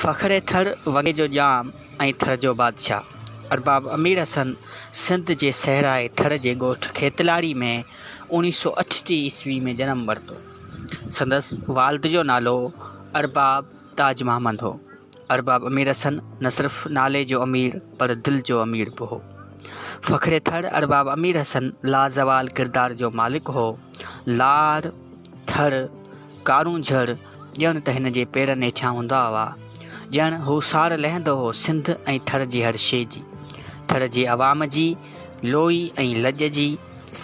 فخر ٿر وڳي جو ڄام ۽ ٿر جو بادشاهه ارباب امير حسن سنڌ جي صحرائي ٿر جي ڳوٺ کيتلاري ۾ اوڻيهه سؤ اٺٽيهه عيسوي ۾ جنم ورتو. سندس والد جو نالو ارباب تاج محمد هو. ارباب امير حسن نه صرف نالي جو امير پر دل جو امير به هو. فخر ٿر ارباب امير حسن لازوال ڪردار جو مالڪ هو. لار، ٿر، ڪارون جھڙ، ڄڻ ته ھن جي پيرن ھيٺيان ھوندا ھئا. ڄڻ ھو ساڙ لھندو ھو سنڌ ۽ ٿر جي ھر شيء جي. ٿر جي عوام جي، لوئي ۽ لڄ جي،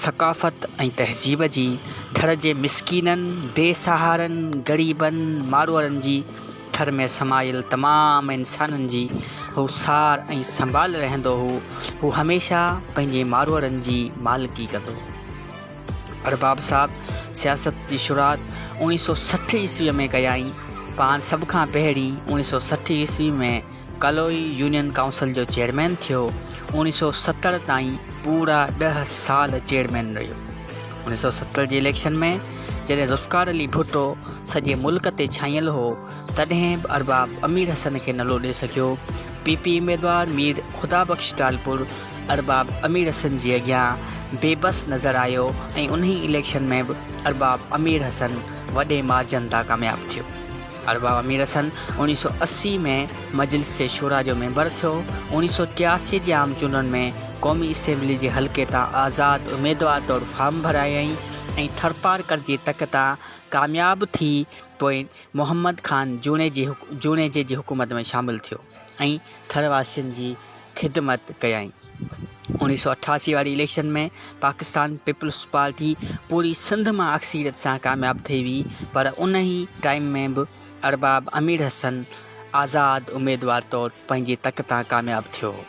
ثقافت ۽ تهذيب جي، ٿر جي مسڪينن، بي سهارن، غريبن، ماروئڙن جي، ٿر ۾ سمايل تمام انسانن جي ھو سار ۽ سنڀال رھندو ھو. ھو ھميشه پنھنجي ماروئڙن جي مالڪي ڪندو ھو. ارباب صاحب سياست جي شروعات اوڻيھ سؤ سٺ عيسويء ۾ ڪيائين. پاڻ سڀ کان پهرين اوڻيھ سؤ سٺ عيسويء ۾ ڪلوئي يونين ڪائونسل جو چيئرمين ٿيو. اوڻيھ سؤ ستر تائين پورا ڏهه سال چيئرمين رهيو. اوڻيھ سؤ ستر جي اليڪشن ۾ جڏهن ذوالفقار علي ڀٽو سڄي ملڪ تي ڇانيل هو، تڏهن به ارباب امير حسن کي نه لوڏي سگهيو. پي پي اميدوار مير خدا بخش ٽالپر ارباب امير حسن جي اڳيان بي بس نظر آيو ۽ انهي اليڪشن ۾ به ارباب امير حسن وڏي مارجن تان ڪامياب ٿيو. ارباب امير حسن اوڻيهه سؤ اسي ۾ مجلس شورا جو ميمبر ٿيو. اوڻيهه سؤ ٽياسي جي عام چونڊن ۾ قومي اسيمبلي جي حلقي تان آزاد اميدوار طور فارم ڀرايائين ۽ ٿرپارڪر جي تڪ تان ڪامياب ٿي پوء محمد خان جوڻيجي جي حڪومت ۾ شامل ٿيو. ۽ ٿر واسين جي خدمت ڪيائين. اوڻيھ سؤ اٺاسي واري اليڪشن ۾ پاڪستان پيپلز پارٽي پوري سنڌ مان اڪثريت سان ڪامياب ٿئي ويئي پر انهي ٽائيم ۾ به ارباب امير حسن آزاد اميدوار طور پنهنجي تڪ تان ڪامياب ٿيو هو.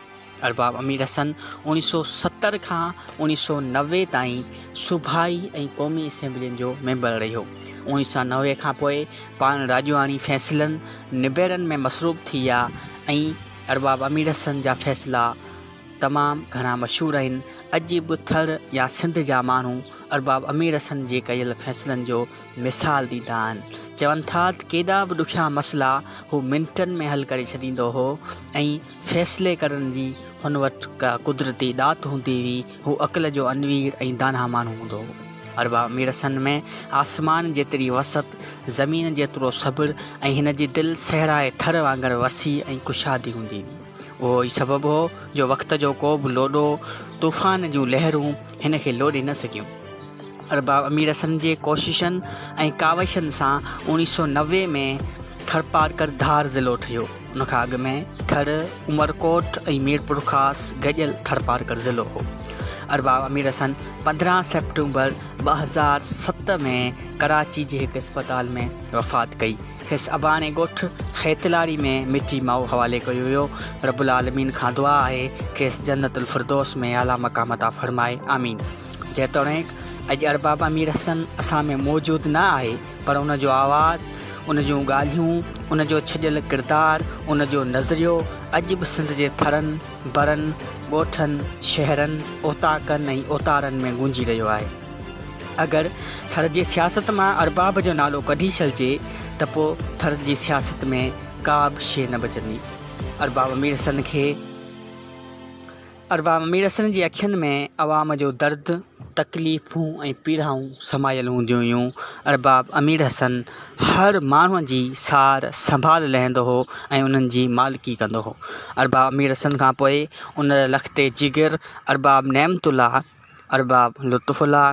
ارباب امير حسن اوڻيھ سؤ ستر کان اوڻيھ سؤ نوي تائين صوبائي ۽ قومي اسيمبلين جو ميمبر رهيو. اوڻيھ سؤ نوي کان پوء پاڻ راڄواڻي فيصلن نبيرن ۾ مصروف ٿي ويا ۽ ارباب امير حسن جا فيصلا تمام گهڻا مشهور آهن. اڄ به ٿر يا سنڌ جا ماڻهو ارباب امير حسن جي ڪيل فيصلن جو مثال ڏيندا آهن. چون ٿا ته ڪيڏا به ڏکيا مسئلا هو منٽن ۾ حل ڪري ڇڏيندو هو ۽ فيصلي ڪرڻ جي هن وٽ ڪا قدرتي ڏات هوندي هئي، هو عقل جو انوير ۽ داناء ماڻهو هوندو هو. اربع ميرثن ۾ آسمان جيتري وسعت، زمين جيترو صبر ۽ هن جي دل صحرائي ٿر وانگر وسيع ۽ ڪشادي هوندي هئي. اهو ئي سبب هو جو وقت جو ڪو به لوڏو، طوفان جون لهرون هن کي لوڏي نه سگهيون. اربع ميرثن جي ڪوششن ۽ ڪاوشن سان اوڻيهه سؤ نوي ۾ ٿرپارڪر ڌار ضلعو ٺهيو. ان کان اڳ ۾ ٿر، عمرڪوٽ ۽ ميرپورخاص گڏيل ٿرپارڪر ضلعو هو. ارباب امير حسن پندرهن سيپٽمبر ٻه هزار ست ۾ ڪراچي جي هڪ اسپتال ۾ وفات ڪئي. کيس اباڻي ڳوٺ خيتلاري ۾ مٽي مائو حوالي ڪيو ويو. رب العالمين کان دعا آهي کيس جنت الفردوس ۾ اعليٰ مقام عطا فرمائي. آمين. جيتوڻيڪ اڄ ارباب امير حسن اسان ۾ موجود نه آهي، پر ان جو آواز، ان جون ڳالهيون، ان جو ڇڄيل ڪردار، ان جو نظريو اڄ به سنڌ جي ٿرن، برن، ڳوٺن، شهرن، اوطاقن ۽ اوتارن ۾ گونجي رهيو آهي. اگر ٿر جي سياست مان ارباب جو نالو ڪڍي ڇڏجي ته پوء ٿر جي سياست ۾ ڪا به شيء نه بچندي. ارباب ميرحسن کي. ارباب ميرحسن جي اکين ۾ عوام جو درد، تڪليفون ۽ پيڙائون سمايل هونديون هيون. ارباب امير حسن هر ماڻهو جي سار سنڀال لهندو هو ۽ انهن جي مالڪي ڪندو هو. ارباب امير حسن کان پوء انهر لخت جگر ارباب نعمت الله، ارباب لطف الله،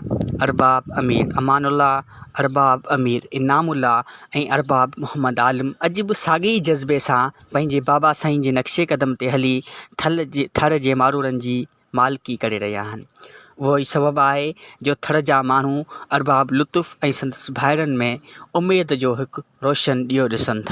ارباب امير امان الله، ارباب امير انعام الله ۽ ارباب محمد عالم اڄ به ساڳي ئي جذبي سان پنهنجي بابا سائين جي نقشي قدم تي هلي ٿل جي ٿر جي مارورن جي مالڪي ڪري رهيا آهن. اهو ئي سبب آهي جو ٿر جا ماڻهو ارباب لطف ۽ سندس ڀائرن ۾ اميد جو هڪ روشن ڏيئو ڏسن ٿا.